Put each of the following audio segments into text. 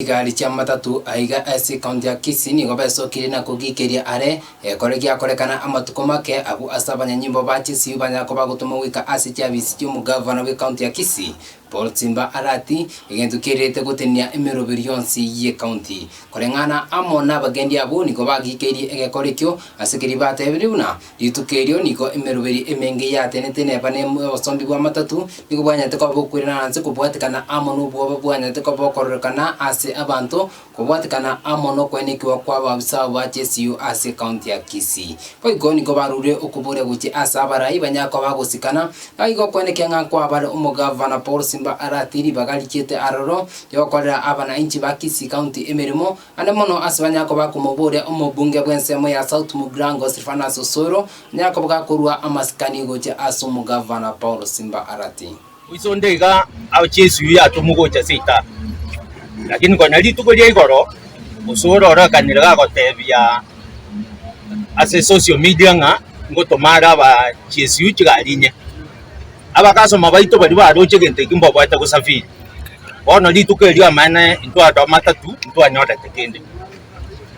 Chigari chi'amatatu aiga ase ekaunti ya Kisii nigo besokirie na kogikeria are, ekore giakorekana amatuko make, abwo ase abanyanyimbo ba chisiu banyara koba gotumwa goika ase chiafisi chi'omogavana bw'ekaunti ya Kisii, Paul Simba Arati, egento kirirete gotenenia emeroberio yonsi y'ekaunti. Koreng'ana amo nabagendi abwo nigo bagikeirie egekora ekio, ase keria batebirie buna Rituko erio nigo emeroberi emenge yatenete neba ne obosombi bw'amatatu nigo bwanyarete koba bokwirana ase kobwatekana amo nobwoba bwanyarete koba okororekana ase abanto kobwatekana amo nokwenekigwa kw'abaabisa abo ba GSU ase county ya Kisii. Boigo nigo barure okoboria gochia ase abarai banya koba gosikana na igo kwenekea ng'a nkwabare omogavana Paul Simba arati ribaga richiete aroro riogokorera abanainchi ba Kisii county emeremo Ande mono ase banyakoba bakomoboria omobunge bw'ensemo ya South Mugirango Silvanus Osoro, onyakoboka korua amasikani gochia ase omogavana Paul Simba Arati. Goicha onde iga aoche esugui yatomwa gocha ase itaara, lakini konya rituko ria igoro Osoro ororekanire gagotebia ase social media ng'a ngotoma are aba chiesugui chigarinye. Abakasoma baito baria baroche egento ekio mbabwate gosafiri. Bono rituko erio amaene intwadoa matatu intwanyorete kende.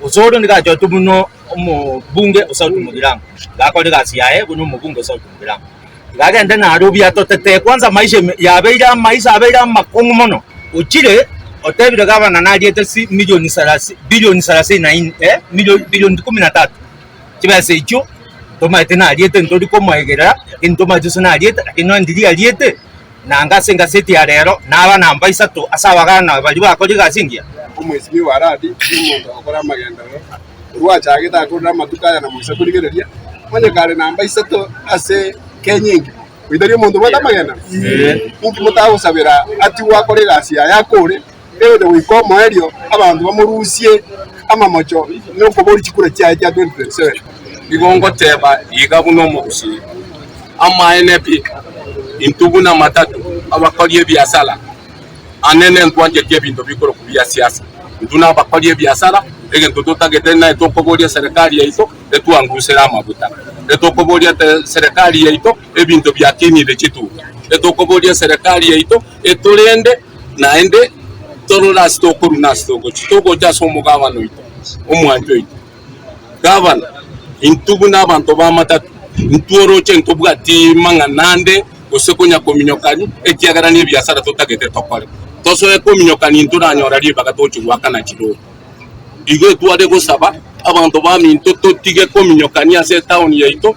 Gose oria onde gachote buna omobunge o South Mugirango, gakora egasi yaye buna omobunge o South Mugirango. Igagenda naro buya totetee kwanza maisha ime- yabeire amaisha abeire amakong'u mono. Ochire otebire gavana nariete si milioni salasi bilioni salasini na ine eh, milio- bilioni rikumi na tatu. Chibesa echio tomanyete nariete ntori komoegerera, lakini tomanyeti gose nariete, lakini nonya ndiri ariete. na anga ase engaseti ya reero naba namba isato ase abagaana baria bakoria egasi engiya. Omosibwa o Aradi, na omonto okora amagenderero, orwachagete akorire amatuko aya na moisa korigereria, onye kare namba isato ase Kenya engima, oitarie omonto obwate amagenderero? Inki motagosabera atigwe akore egasi yaye akore? David goika omoerio abanto bamorusie amamocho nokoboria chikura chiaye chia 2027. Nigo ngoteba iga buna omogusi, Amaene pi, intwe buna amatatu abakori ebiasara ane nentwancheti ebinto bikorokwa bia siasa. Intwe nabakori ebiasara, egento totagete naye tokoboria eserekari yaito etwangusere amabuta, etokoboria eserekari yaito ebinto biakinire chitugo, etokoboria eserekari yaito etorende naende torore ase tokorwa na ase togochia, togocha ase omogabana oito, omwancha oito. Gavana, intwe buna abanto b'amatato, intwe oroche ntobwati mang'ana ande gose konya kominyokani, ekiagera nebiasara totagete tokore. Tosoe kominyokani intwe oranyora ribaga togochia goakana chirori. Igo etware gosaba abanto baminto totige kominyokani ase etaoni yaito,